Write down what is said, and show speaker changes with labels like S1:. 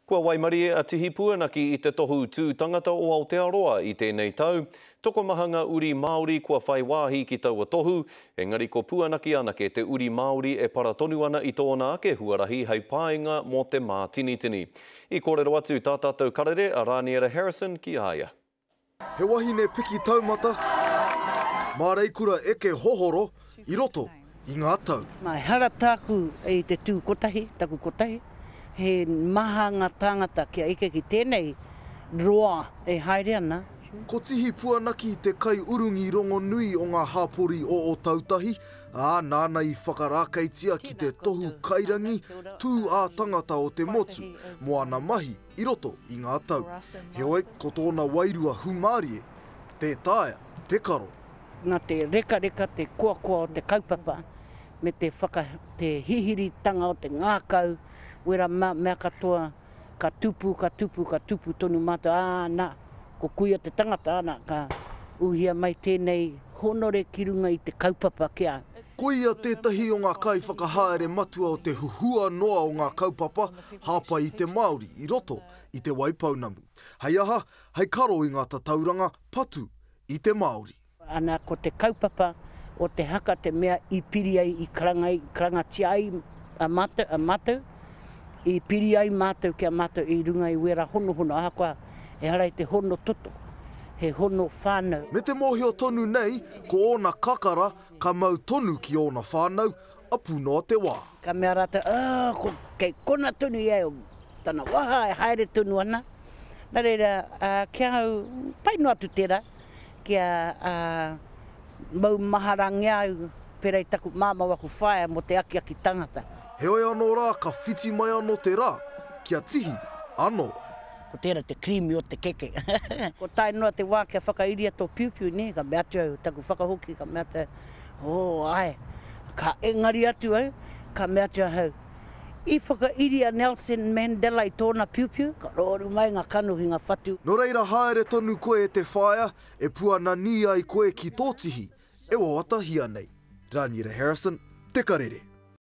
S1: Kua waimarie a Tihi Puanaki i te Tohu Tū Tangata o Aotearoa i tēnei tau. Tokomaha ngā uri Māori kua whai wāhi ki taua tohu, engari ko Puanaki anake te uri Māori e para tonu ana i tōna ake huarahi hei painga mō te mātinitini. I kōrero atu tā tātou karere a Rāniera Harrison ki a ia. He wahine
S2: piki taumata mā reikura eke hohoro i roto i ngā tau. Nā ehara tāku
S3: i te tū kotahi, taku kotahi, he maha ngā tāngata kia eke ki tēnei roa e haere ana. Ko Tihi
S2: Puanaki te kaiurungi rongonui o ngā hapori o Ōtautahi, ā, nāna i whakarākeitia ki te tohu kairangi tū ā-tangata o te motu, moana mahi, i roto i ngā tau. Heoi, ko tōna wairua hūmārie, tē taea, te karo. Nā te
S3: rekareka, te koakoa o te kaupapa, me te whaka, te hihiritanga o te ngākau, wera mā, mea katoa, ka tupu, ka tupu, ka tupu tonu mātou, ā, nā, ko kuia te tangata, nā, ka uhia mai tēnei hōnore ki runga i te kaupapa ki a. Ko ia tētahi
S2: o ngā kaiwhakahaere matua o te huhua noa o ngā kaupapa, Hāpai i te Māori i roto i Te Waipounamu. Hei aha, hei karo i ngā tatauranga patu i te Māori. Ana ko te
S3: kaupapa o te haka te mea i piri ai, i karangatia ai mātou, i piri ai mātou ki a mātou i runga i wērā honohono, ahakoa ehara i te hono toto, he hono whānau. Me te mōhio tonu
S2: nei, ko ōna kakara ka mau tonu ki ōna whānau, a Puna o te Wa. Ka mea ratou, Oh,
S3: ko, kei kona tonu ia e tana waha e haere tonu ana. Na reira, a, ki a au, pai noa atu tera, kia, a, maumaharangia au, pera i taku mamau aku whaea mo te akiaki tangata. Heoi ano ra
S2: ka whiti mai ano te ra, kia tihi ano. Ko tera te
S3: kirimi o te keke. Ko tae noa te wa kia whakairia to piupiu, ne, ka mea atu au, taku whakahoki, ka mea atu au, Oh, ae. Ka engari atu au, ka mea atu ahau, I whakairi a Nelson Mandela i tōna piupiu, ka rooru mai nga kanohi, nga whatu. No reira haere
S2: tonu koe e te whaea e puananī ai koe ki tō tihi e wawatahia nei. Raniera Harrison, Te Karere.